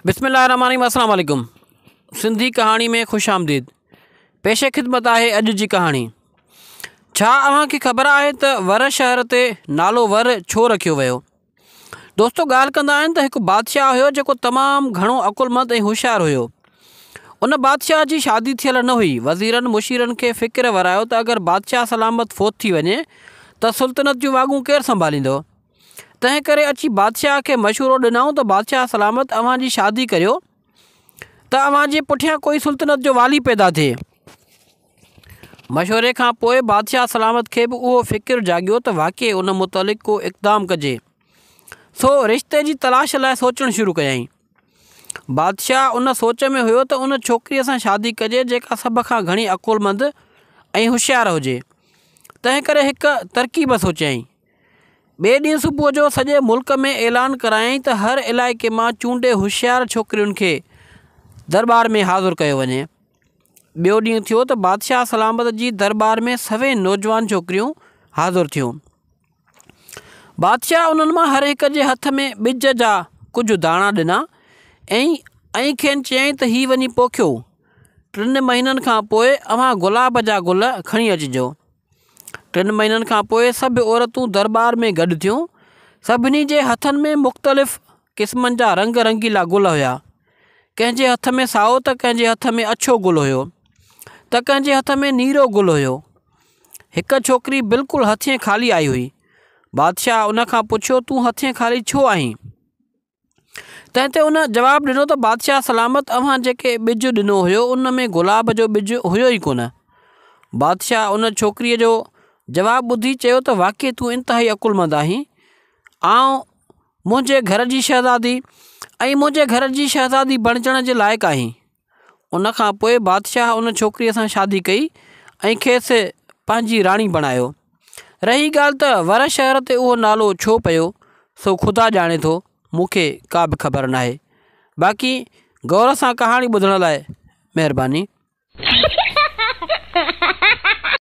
بسم الله الرحمٰن الرحيم السلام عليڪم سنڌي ڪهاڻي ۾ خوش آمديد پيش خدمت آهي اڄ جي ڪهاڻي ڇا اوهان کي خبر آهي ته ور شهر تي نالو ور ڇو رکيو ويو دوستو ڳالهه ڪندا آهن ته هڪ بادشاهه هيو جيڪو تمام گهڻو عقلمند ۽ هوشيار هيو ان بادشاهه جي شادي ٿيل نه هئي وزيرن مشيرن کي فڪر ورايو ته اگر بادشاهه سلامت فوت ٿي وڃي ته سلطنت جون واڳون ڪير سنڀاليندو تنهن ڪري اچي بادشاهه کي مشورو ڏنائون ته بادشاهه سلامت اوهان جي شادي ڪريو ته اوهان جي پٺيان ڪوئي سلطنت جو والي پيدا ٿئي. مشوري کان پوء بادشاهه سلامت کي به اهو فڪر جاڳيو ته واقعي ان متعلق ڪو اقدام ڪجي. سو رشتي جي تلاش لاء سوچڻ شروع ڪيائين. بادشاهه ان سوچ ۾ هيو ته ان ڇوڪريء سان شادي ڪجي جيڪا سڀ کان گهڻي عقلمند ۽ هوشيار هجي. تنهن ڪري هڪ ترڪيب سوچيائين. ٻئي ڏينهن صبح جو سڄي ملڪ ۾ اعلان ڪرايائين ته هر علائقي مان چونڊي هوشيار ڇوڪرين کي درٻار ۾ حاضر ڪيو وڃي. ٻيو ڏينهن ٿيو ته بادشاهه سلامت جي درٻار ۾ سوين نوجوان ڇوڪريون حاضر ٿيون. بادشاهه انهن مان هر هڪ جي هٿ ۾ ٻج جا ڪجهه داڻا ڏنا ۽ ائين کين چيائين ته هي وڃي پوکيو. ٽن مهينن کان پوء اوهان گلاب جا گل کڻي اچجو. ٽن مهينن کان پوء سڀ عورتون درٻار ۾ گڏ ٿيون سڀني جي هٿن ۾ مختلف قسمن جا رنگ رنگيلا گل هيا ڪنهن جي هٿ ۾ سائو ته ڪنهن جي هٿ ۾ اڇو گل هيو ته ڪنهن جي هٿ ۾ نيرو گل هيو هڪ ڇوڪري بلڪل هٿين خالي آئي هئي بادشاهه ان کان پڇيو تون هٿين خالي ڇو آهين تنهن تي ان جواب ڏنو ته بادشاهه سلامت اوهان جيڪي ٻج ڏنو هيو ان ۾ گلاب جو ٻج هيو ئي ڪونه. بادشاهه ان ڇوڪريء جو جواب ٻڌي چيو ته واقعي تون انتهائي عقلمند آهين. آئون منهنجي گهر جي شهزادي ۽ منهنجي گهر جي شهزادي بڻجڻ جي لائق آهين. ان کان پوء بادشاهه ان ڇوڪريء سان شادي ڪئي ۽ کيس پنهنجي راڻي بڻايو رهي ڳالهه ته ور شهر تي اهو نالو ڇو پيو سو خدا ڄاڻي ٿو مون کي ڪا به خبر نه آهي باقي غور سان ڪهاڻي ٻڌڻ لاء مهرباني.